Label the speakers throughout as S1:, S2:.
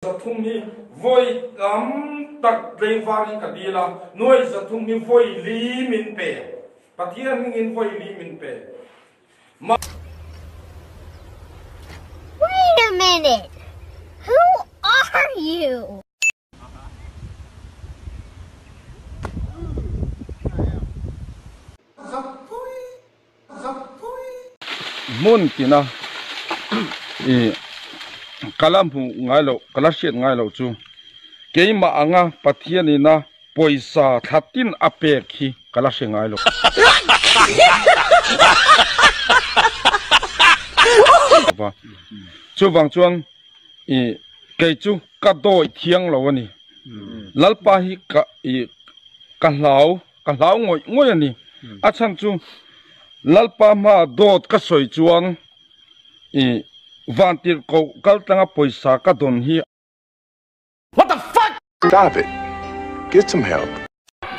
S1: Zathum hi vawi tam tak tleivângin ka dîl a, nuai zathum hi vawi li min pe, Pathian hmingin vawi li min pe. Mah. Wait a minute! Who are you? zam pui. Hmun tina i ka la hmu ngai lo, ka la hriat ngai lo chu keimah anga Pathian in a pawisa thlatin a pek hi ka la hre ngai lova. Chuvang chuan i kei chu ka dawih thiang lo a ni. Lalpa hi ka i ka hlau. Ka hlau ngawih ngawih a ni. A chhan chu, Lalpa hma dawt ka sawi chuan i vantir koh kaltlanga pawisa ka dawn hi. What the fuck! David, get some help.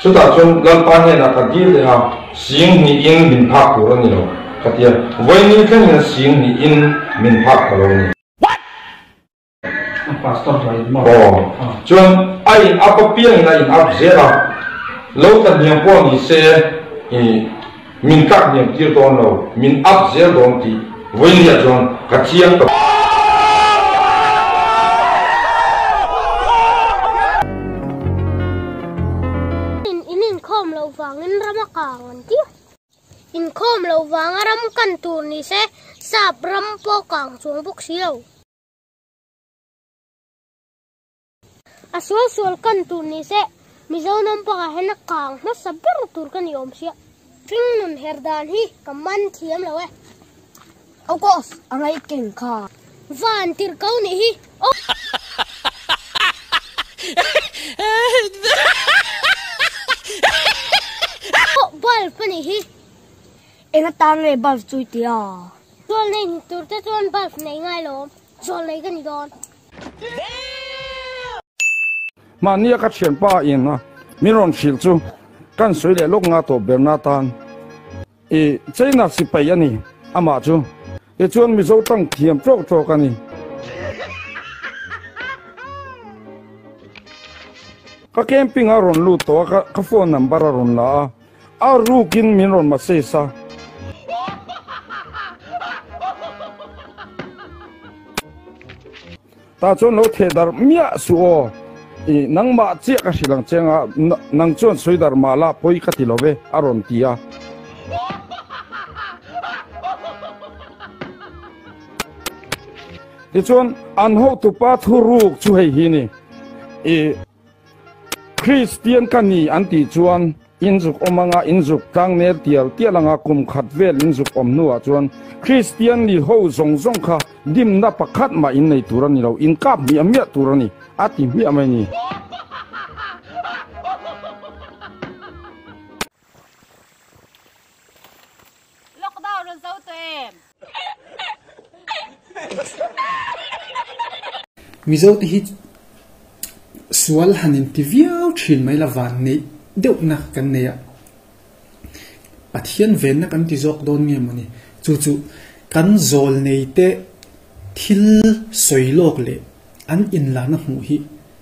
S1: Chutah chuan Lalpa hnenah ka dil leh a, sing hnihin min phak tur a ni lo ka ti a. Vawiin thlengin sing hnihin min phak ka lo ni. What! Aw, chuan a in up a piangin a in up zel a, lo ta hniam pawh ni se i min tlak hniam tir dawn lo, min up zel dawn tih Vawilia chuan ka chiang ta bawk. In inkhawm loh vangin ram a kang ang tia, inkhawm loh vanga ram kan tur ni se sap ram pawh kang chuang bawk si lo. a sual sual kan tur ni se mizo nom panga hena kang ma sa ber tur kan i om sia tring nun her dan hi ka man thiam lo e o kos angai ken kha van tir kau ni hi o bal pani hi ena tang nge bal chui tia Zual nei ni tur te chuan bulb nei ngai lo, zual nei ka ni dawn. Mahni a ka thianpa in a min rawn hrilh chu kan sawi leh lawk nga tawh ber na tan i China sipai a ni amah chu. Tichuan Mizo tang thiam tawk tawk a ni. Ka camping a rawn lut tawh a ka phone number a rawn la a. A ruk in min rawn massage a. Tah chuan lo theh dar miah suh aw. I nangmah chiah ka hrilh ang che nga, nang chuan sawi dar mah la pawi ka ti lo ve, a rawn ti a. Tichuan an hotupa thu ruk chu hei hi ni. I. Kristian ka ni an tih chuan inzuk awm anga inzuk tlangner tial tial anga kum khat vel inzuk awm hnuah chuan Kristian ni ho zawng zawng kha dimna pakhat mah in nei tur a ni lo, inkap hmiah hmiah tur a ni, a ti hmiah mai ni. Lockdown rawn zo tawh em? Mizo te hi sual han in ti viau thin mai la van neih deuh na kan nei a Pathian ven na kan ti zawk dawn nge mawni chu chu kan zawl nei te thil sawi lawk leh an in la na hmuh hi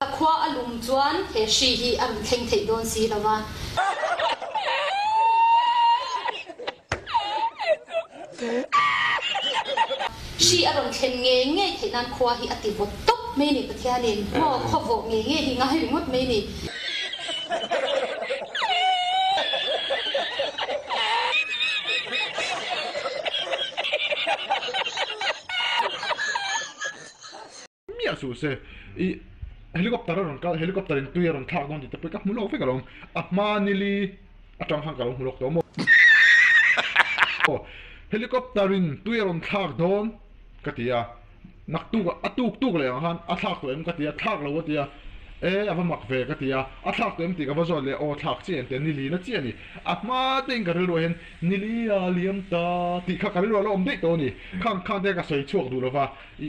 S1: A khua a lum chuan he hri hi a rawn thleng theih dawn si lo a. Hri a rawn thlen nge ngei theih nan khua hi a ti vawt tawp mai a ni, Pathianin maw khawvawh nge ngei hi ngai ringawt mai a ni. miah suh se i helicopter a rawn kal helicopter in tui a rawn thlak dawn tih te pawh i ka hmu lawk vek a lo awm a hma nili atang khan ka lo hmu lawk tawh maw helicopter in tui a rawn thlak dawn ka ti a. nak tuk a a tuk tuk leh ang khan a thlak tawh em ka ti a thlak lo a ti a e a va mak ve ka ti a a thlak tawh em tih ka va zawt leh aw thlak chiah en ti a nili na chiah a ni a hma te in ka rilruah hian nilia liam ta tih kha ka rilruah la awm daih tawh a ni khang khang te ka sawi chhuak duh lo va i.